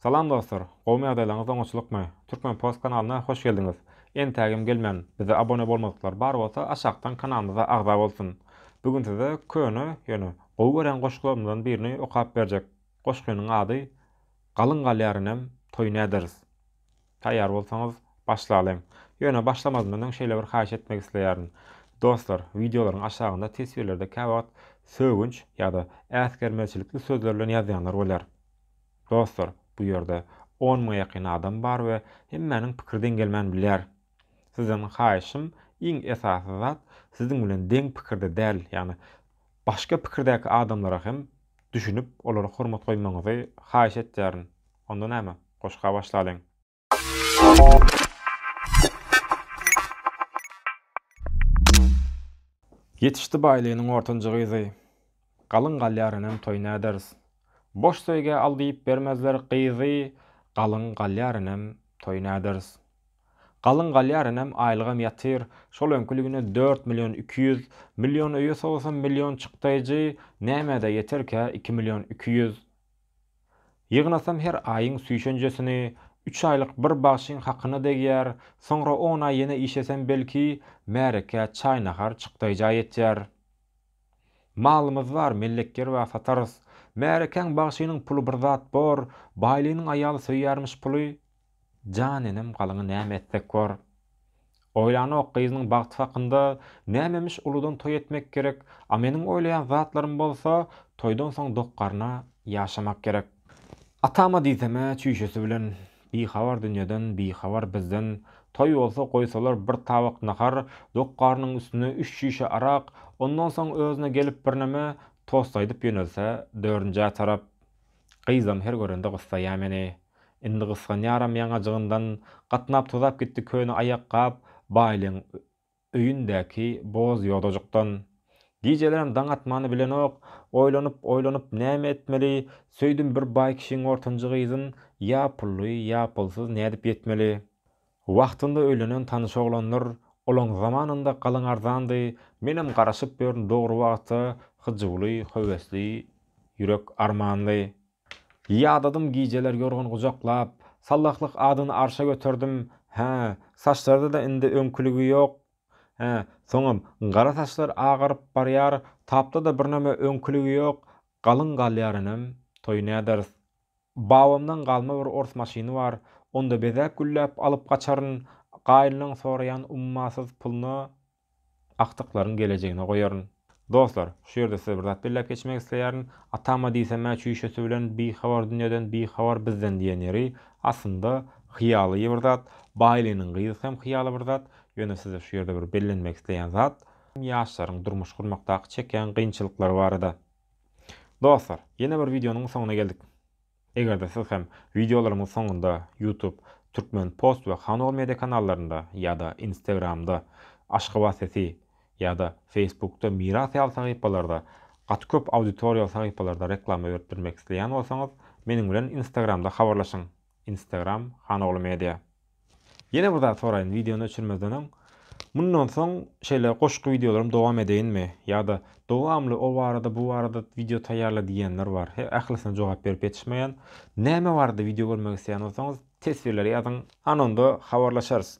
Salam dostlar! Gowmy ýagdaýlaryňyz oňaçylykmy? Türkmen post kanalyna hoş geldiňiz! Entägem gelmän bize abone bolmadyklar bar bolsa aşakdan kanalymyza agza bolsun! Bu gün size köne ýöne gowy görýän goşgularymyzdan birini okap berjek goşgynyň ady Galyň galýar inim toýun äderis! Taýýar bolsaňyz başlalyň! Ýöne başlamazym öň şeýle bir haýyş etmek isleýärin! Dostlar wideolaryň aşagynda teswirlerde käwagt sögünç ýa-da äsgermezçilikli sözler bilen ýazýanlar bolýar. Dostlar, bu ýerde on müňe ýakyn adam bar we hemmäniň pikiri deň gelmän bilýär. Sizden haýyşym, iň esasy zat, siziň bilen deň pikirde däl, ýagny başga pikirdäki adamlara hem düşünip, olara hormat goýmagyňyzy haýyş etýärin. Onda näme, goşga başlalyň! Ýetişdi baýlynyň ortanjy gyzy. Galyň galýar inem toý näders. Boş söýgä al diýip bermezler gyzy Galyň galýar inem toý näders. Galyň galýar inem aýlygam ýatyr şol öňküligine dört million iki ýüz million öýe sogsam million çykdaýjy nämede ýeterkä iki million iki ýüz. Ýygnasam her aýyň süýşenjesini, üç aýlyk bir bagşyň hakyna degýär, soňra on aý ýene işesem belki, märekä çaý-nahar çykdaýja ýetýär. Malymyz bar, mellekgerbä satarys. Märekäň bagşynyň puly bir zat bor, baýlynyň aýaly söýýärmiş puly. Jan enem galyňy näme etsek bor. Oýlanok gyzynyň bagty hakynda, nämemiş uludan toý etmek gerek, a meniň oýlaýan zatlarym bolsa toýdan soň dok garna ýaşamak gerek. Atama diýsemä çüýşesi bilen bihabar dünýeden bihabar bizden, toý bolsa goýsalar bir tabak nahar, dok garnyň üstüne üç çüýşe arak, ondan soň özüne gelip birneme tost aýdyp ýönelse dördünjä tarap. Gyzam her görende gyssaýa meni. Indi gysganýaram ýaňajygyndan. Gatnap tozap gitdi köne aýakgap Baýlyň öýündäki boz ýodajykdan. Gijelerem daň atmany bilenok. Oýlanyp, oýlanyp näme etmeli? Söýdüm bir baý kişiň ortanjy gyzyn, ýa pully, ýa pulsuz nädip ýetmeli? Wagtynda öýlenen tanyş oglandyr, olaň zamanynda galyň arzandy, menem garaşyp ýörün dogry wagta hyjuwly, höwesli, ýürek armanly. Ýadadym gijeler ýorgan gujaklap, sallahlyk adyny arşa göterdim, hä, saçlarda-da indi öňküligi ýok, hä, soňam, gara saçlar agaryp barýar, tapda-da birneme öňküligi ýok, galyň galýar inim, toý näderis. Babamdan galma bir ors maşyny bar, onda bezäp-gülläp alyp gaçaryn, gaýynlaň soraýan ummasyz puluna agtyklaryň gelejegine goýaryn. Dostlar, şu ýerde size bir zat belläp geçmek isleýärin. Atama diýsem-ä çüýşesi bilen bihabar dünýeden, bihabar bizden diýen ýeri, aslynda, hyýaly bir zat. Baýlynyň gyzy hem hyýaly bir zat. Ýöne size şu ýerde bir bellenmek isleýän zat, ýaşlaryň durmuş gurmakdaky çekýän kynçylyklary barada. Dostlar, ýene bir wideonyň soňuna geldik. Eger-de siz hem wideolarymyň soňunda YouTube, Türkmen post we Hanol media kanallarynda ýa-da Instagramda, Aşgabat sesi, ýa-da Facebookda Miras ýaly sahypalarda, gaty köp auditoriýaly sahypalarda reklama berip bilmek isleýän bolsaňyz, meniň bilen Instagramda habarlaşyň. Instagram Hanogly Media. Ýene bir zat soraýyn wideony öçürmezden öň, mundan soň şeýle goşgy wideolarym dowam edeýinmi? Ýa-da dowamly o barada bu barada wideo taýýarla diýýänler bar. He ählisine jogap berip ýetişmeýän. Näme barada wideo görmek isleýän bolsaňyz teswirlere ýazyň, ana onda habarlaşarys.